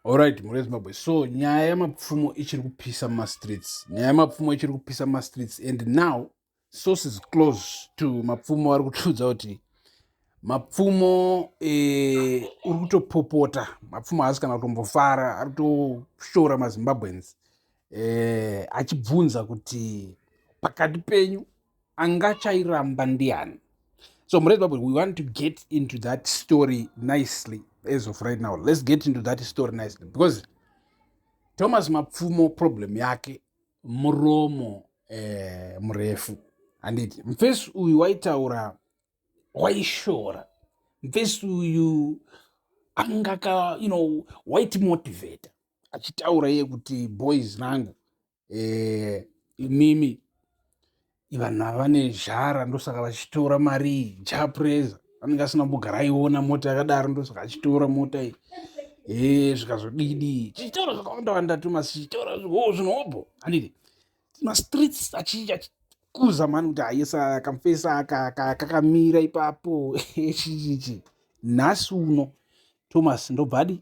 Alright, Mhuri Zimbabwe. So nyaya yamapfumo ichiri kupisa mumastreets. Nyaya yamapfumo ichiri kupisa mumastreets and now sources close to mapfumo vari kutiudza kuti mapfumo eh, uri kutopopota mapfumo haasi kana kutombofara ari kutoshora mazimbabweans eh, achibvunza kuti pakati penyu angachairamba ndiani so murezi babwe we want to get into that story nicely as of right now let's get into that story nicely because thomas mapfumo problem yake muromo eh, murefu handiti mfesi uyu waitaura waishora mfesi uyu angaka you know waiti motivator achitaura iye kuti boys nangu eh, imimi vanhu ava vane zhara ndosaka vachitora mari iyi japresa anenge asina mbogara aiona mota yakadaro ndosaka achitora mota iyi e zvikazodidi chitoro zvakawanda wanda tumasi chitoro oh, zvinobho anditi mastreets achikuza mani kuti ayesa kamfesa kakamira ipapo chichichi nhasi uno thomas ndobvadi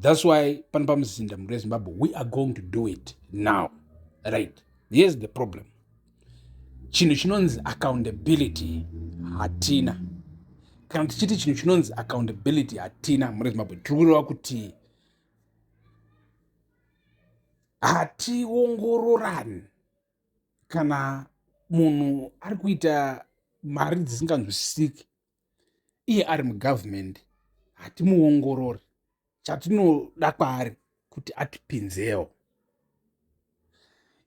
That's why pano pamuzinda mhuri yezimbabwe we are going to do it now right here's the problem chinhu chinonzi accountability hatina kana tichiti chinhu chinonzi accountability hatina mhuri yezimbabwe tiri kureva kuti hationgororani kana munhu ari kuita mari dzisinganzwisisiki iye ari mugovernment hatimuongorori chatinoda kwaari kuti atipinzewo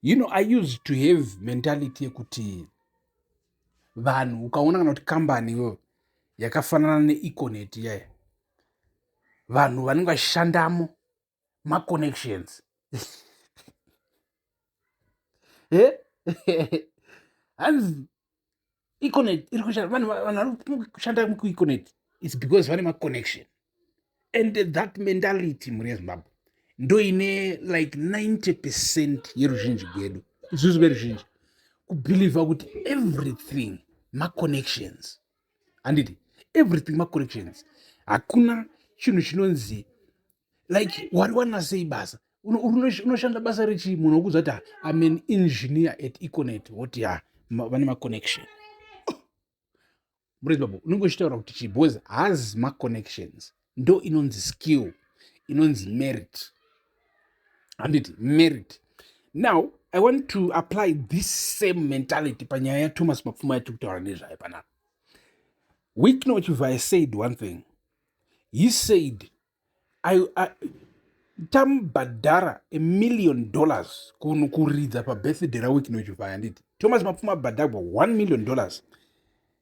you know i used to have mentality yekuti vanhu ukaona kana kuti kambani iyoyo yakafanana neeconet iyayo vanhu vanenge vashandamo maconnections hanzi econet iri kushanda vanhu vari kushanda mukueconet its because vane maconnection and that mentality mhuri yezimbabwe ndo ine like 90 percent yeruzhinji gwedu isusu veruzhinji kubhilivha kuti everything maconnections handiti everything macorrections hakuna chinhu chinonzi like wari wana sei basa unoshanda basa rechii munhu wokudza kuti im an engineer at econet woti ha vane maconnection murezi babo unenge uchitaura kuti chii because haazi maconnections ndo inonzi skill inonzi merit handiti merit now i want to apply this same mentality panyaya yathomas mapfuma yatiri kutaura nezvayo panapa wicknow chivhaye said one thing he said I, I, tambhadhara a million dollars kunhu kuridza pabirthday rawicknow chivhaye handiti thomas mapfuma abhadhagwa one million dollars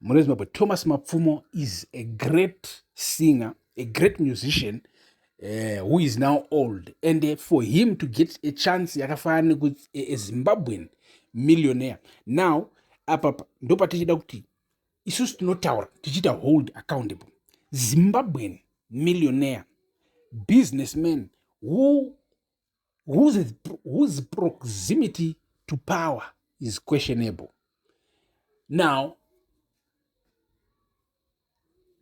mune zimbabwe thomas mapfumo is a great singer a great musician uh, who is now old and uh, for him to get a chance yakafanana nekuti a, a zimbabwean millionaire now apapa ndopatichida kuti isusu tinotaura tichiita hold accountable zimbabwean millionaire businessman who whose, whose proximity to power is questionable now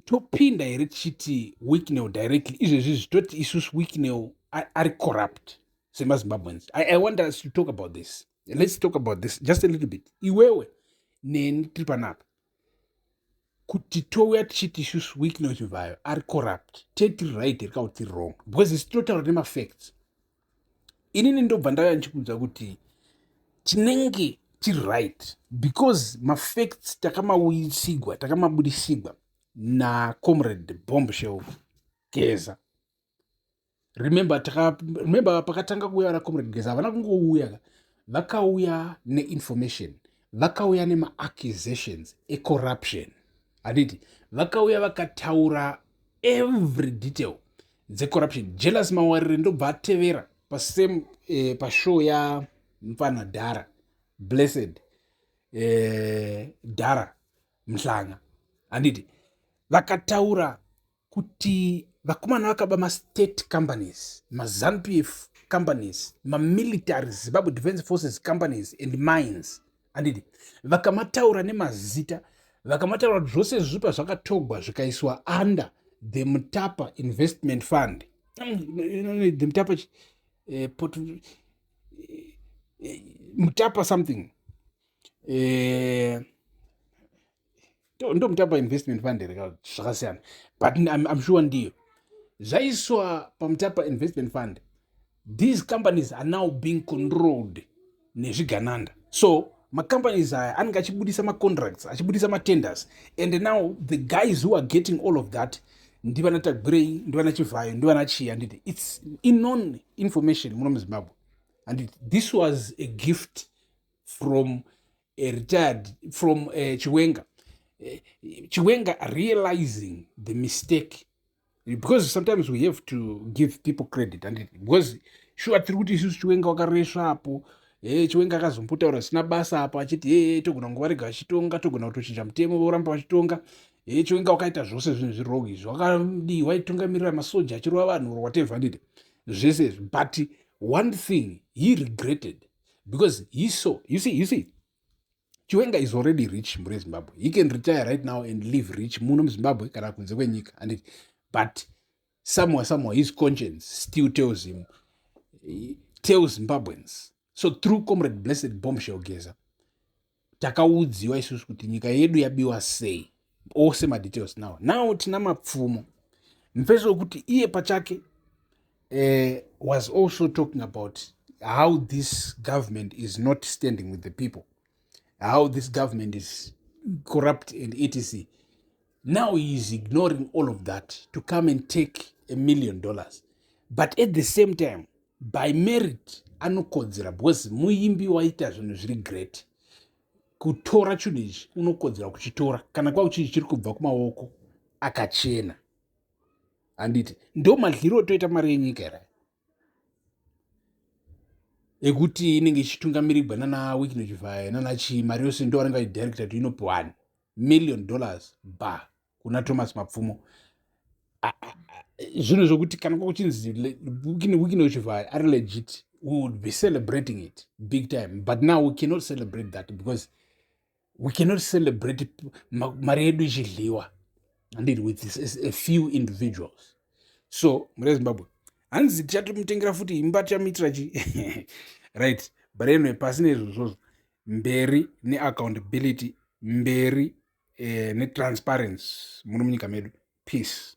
topinda here tichiti wicknel directly izvezvi zvitoti isusu wicknel ari corrupt semazimbabweans I, i want us to talk about this let's talk about this just a little bit iwewe neni tiri panapa kuti touya tichiti isusu weeknow chivhayo ari corrupt te tiri right here ka kuti tiri wrong because isi tinotaura nemafacts inini ndobva ndauya ndichikuudza kuti tinenge tiri right because mafacts takamauyisigwa takamabudisigwa nacomrade bombshell geza remember taka remember pakatanga kuuya vana comrade geza havana kungouya ka vakauya neinformation vakauya nemaaccusations ecorruption handiti vakauya vakataura every detail dzecorruption jealous mawarire ndobva atevera pasame eh, pashow ya mfana dhara blessed eh, dhara mhlanga handiti vakataura kuti vakomana vakaba mastate companies mazanupf companies mamilitary zimbabwe defense forces companies and mines andidi vakamataura nemazita vakamataura kuti zvose izvi pazvakatogwa zvikaiswa under the mutapa investment fund mm, the mutapa eh, pot, eh, eh, mutapa something eh, ndomutapa investment fund here zvakasiyana but I'm, I'm sure ndiyo zvaiswa pamutapa investment fund these companies are now being controlled nezvigananda so macompanies aya anenge achibudisa macontracts achibudisa matenders and now the guys who are getting all of that ndivana tagwirei ndivana chivhayo ndivana chii handiti its inon information muno muzimbabwe handiti this was a gift from a retired from uh, chiwenga uh, chiwenga realizing the mistake because sometimes we have to give people credit and it, because sure tiri kuti isusu chiwenga wakaresva apo e eh, chiwenga akazombotaura zvisina basa apo achiti ee eh, togona kunge varega vachitonga togona kutochinja mutemo voramba vachitonga e chiwenga wakaita zvose zvinhu zvirong izvi wakadii waitungamirira masoja achirova vanhu or whatever ndide zvese izvi but one thing he regretted because he saw you see you see chiwenga is already rich mhuri yezimbabwe he can retire right now and live rich muno muzimbabwe kana kunze kwenyika and but somewhere somewhere his conscience still tells him tells zimbabweans so through comrade blessed bombshell geza takaudziwa isusu kuti nyika yedu yabiwa sei ose madetails now now tina mapfumo mfeso wekuti iye pachake uh, was also talking about how this government is not standing with the people how this government is corrupt and etc Now he is ignoring all of that to come and take a million dollars. But at the same time, by merit, anokodzera because muimbi waita zvinhu zviri great. Kutora chinhu ichi unokodzera kuchitora kana kwava kuchii chiri kubva kumaoko akachena. Handiti ndo madliro otoita mari yenyika here? Ekuti inenge ichitungamirigwa nana Wikino Chivhaye nana chii mari yose ndo vanenge vachidirecta kuti inopiwani. million dollars ba kuna thomas mapfumo zvinhu zvokuti kana kwakuchinzi wikine uchivhaya ari legit we would be celebrating it big time but now we cannot celebrate that because we cannot celebrate mari yedu ichidliwa handiti with a few individuals so mure zimbabwe hanzi tichatomutengera futi imba tichamuitira chi right but anyway pasi nezvozvozvo mberi neaccountability mberi eh, netransparency muno munyika medu peace